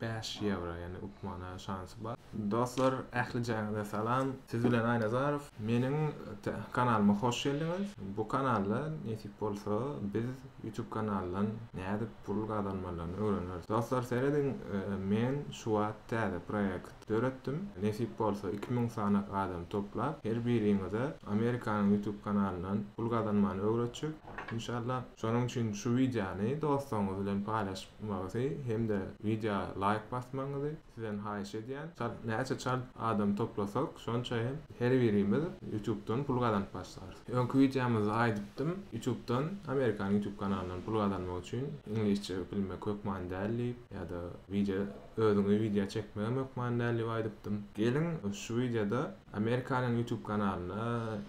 bäş ýewro ýagny utmana şansy bar. Dostlar ählijaňyza salam siz bilen Aýnazarow meniň kanalyma hoş geldiňiz bu kanalda nesip bolsa biz ýutub kanaldan nädip pul gazanmalaryny öwreneris dostlar serediň men şuwagt täze proýekt Döretdim. Nesip bolsa iki müň sanyk adam toplap her biriňize Amerikanyň YouTube kanalyndan pul gazanmany öwretjek inşallah. Şonuň üçin şu wideony dostlaryňyz bilen paýlaşmagyzy hem-de wideoa laýk basmagyňyzy sizden haýyş edýän. Çalt näçe çalt adam toplasak şonça hem her birimiz YouTubedan pul gazanyp başlarys. Öňki wideomyzda aýdypdym YouTubedan Amerikanyň YouTube kanalyndan pul gazanmak üçin iňlisçe bilmek hökman däl diýip ýa-da wideo Özüňe wideo çekmegem hökman däl diýip aýdypdym. Geliň şu wideoda Amerikanyň YouTube kanalyny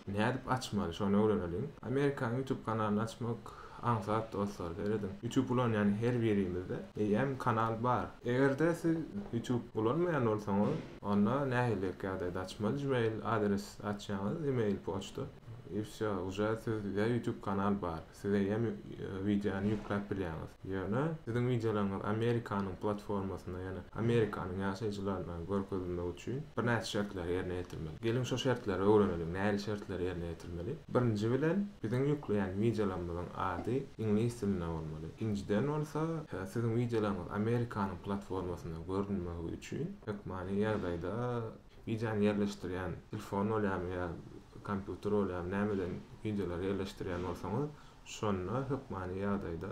nädip açmaly şony öwreneliň. Amerikanyň YouTube kanalyny açmak aňsat dostlar serediň. YouTube ulanýan her birimizde eýýäm kanal bar. Egerde siz YouTube ulanmaýan bolsaňyz onda nähiliräk ýagdaýda açmaly Gmail adres açýaňyz email poçta i wsýo uje sizde YouTube kanal bar. Siz eýýäm wideony ýükläp bilýäňiz. Ýöne siziň wideolaryňyz Amerikanyň platformasynda, ýagny Amerikanyň ýaşaýjylaryna görkezilmegi üçin birnäçe şertleri ýerine ýetirmeli. Geliň şo şertleri öwreneliň, nähili şertleri ýerine ýetirmeli. Birinji bilen biziň ýükleýän wideolarymyzyň ady iňlis dilinde bolmaly. Ikinjiden bolsa, siziň wideolaryňyz Amerikanyň platformasynda görünmegi üçin hökmany ýagdaýda, Wideony ýerleşdirýän telefon bolýamy ýa kompýuter bolýamy nämeden wideolary ýerleşdirýän bolsaňyz şonda hökmany ýagdaýda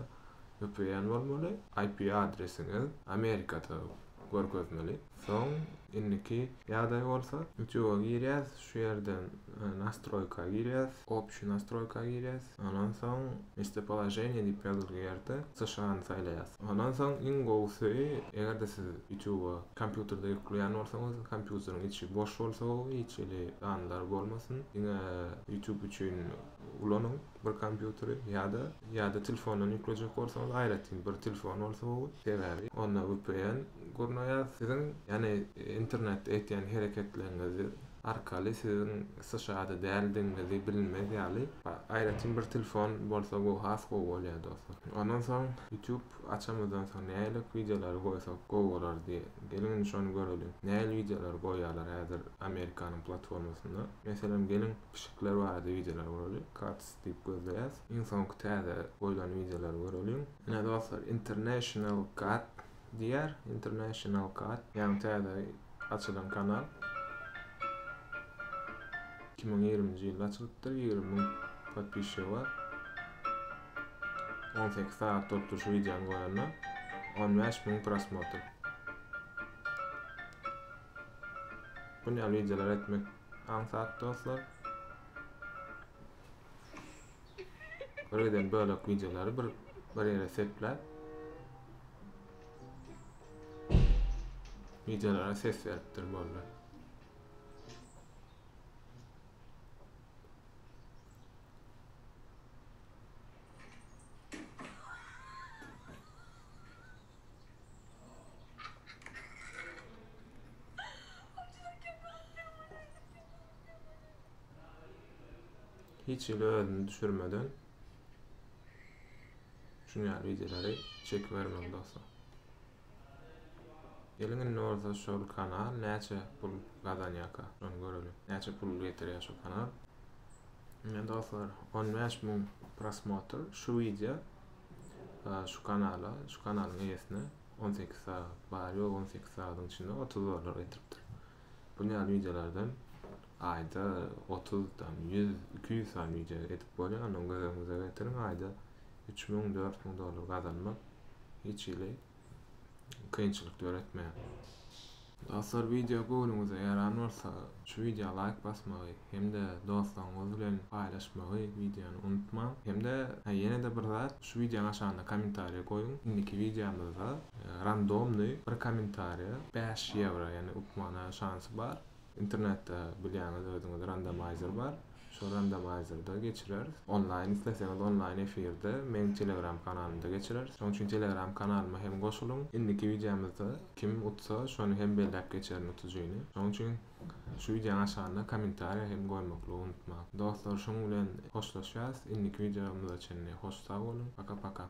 öpeýän bolmaly IP adresiňiz Amerikada görkezmeli soň indiki ýagdaý bolsa Youtube'a girýäs şu ýerden nastroýka girýäs Opçýy nastroýka girýäs. Ondan soň Mestopoloženiýe diýip ýazylgy ýerde США-ny saýlaýas. Ondan soň iň gowusy, eger-de siz YouTube-a kompýuterde ýükleýän bolsaňyz, kompýuteriň içi boş bolsa gowy, hiç hili sanlar bolmasyn, diňe YouTube üçin ulanyň bir kompýuteri ýa-da ýa-da telefondan ýüklejek bolsaňyz aýratyn bir telefon bolsa gowy, sebäbi onda vpn gurnaýar, siziň ýagny internetde etýän hereketleriňiz arkaly siziň Sşada däldigiňizi bilinmez ýaly aýratyn bir telefon bolsa gowy has gowy bolýar dostlar. Ondan soň YouTube açamyzdan soň nälik wideolary goýsak gowy bolardy? Geliň indi şony göreliň. Nähili wideolary goýýarlar häzir Amerikanyň platformasynda? Meselem geliň pişikler barada wideolar göreli. Cats diýip gözleýäs. Iň soňky täze goýlan wideolary göreliň. Ine dostlar International cat Diýer International Cat. Ýaňy täze açylan kanal. Iki müň ýigriminji ýylda açylypdyr. Ýigrimi müň podpisçigi bar. On sekiz sagat bolupdyr şu wideony goýanyna. On bäş müň prosmotr. Bunýaly wideolary etmek aňsat dostlar. Görgiden bölek wideolary bir bir ýere sepläp wideolara ses beripdir boldy. Hiç hili özüni düşürmeden şun ýaly wideolary çekibermeli dostlar. Geliň indi bolsa şol kanal näçe pul gazanýarka şony göreliň. Näçe pul getirýär şu kanal. Ine dostlar 15 müň prosmotr şu wideo şu kanala şu kanalyň eýesine 18 sagat bar ýok 18 sagadyň içinde 30 dollar getiripdir. Bu ýaly wideolardan Aýda otuz tam, ýüz, iki ýüz sany wideo edip bolýar, ony göz öňüňize getiriň, aýda üç müň, dört müň dollar gazanmak hiç hili kynçylyk döretmeýär. Dostlar wideo göwnüňize ýaran bolsa şu wideo laýk basmagy hem-de dostlaryňyz bilen paýlaşmagy wideony unutmaň. Hem-de hä ýene-de bir zat şu wideonyň aşagynda kommentariýa goýuň, indiki wideomyzda randomny bir kommentariýa bäş ýewro ýagny upmana şansy bar, Internetde bilýäňiz özüňiz randomaýzer bar. Şol randomaýzerde geçireris. Onlaýn isleseňiz onlaýn efirde meň telegram kanalymda geçireris. Şoň üçin telegram kanalyma hem goşulyň. Indiki wideomyzda kim utsa şony hem belläp geçerin utujyny. Şoň üçin şu wideoň aşagynda kommentariýa hem goýmaklygy unutmaň. Dostlar şunuň bilen hoşlaşýas. Indiki wideomyza çenli hoş sag boluň. Paka paka.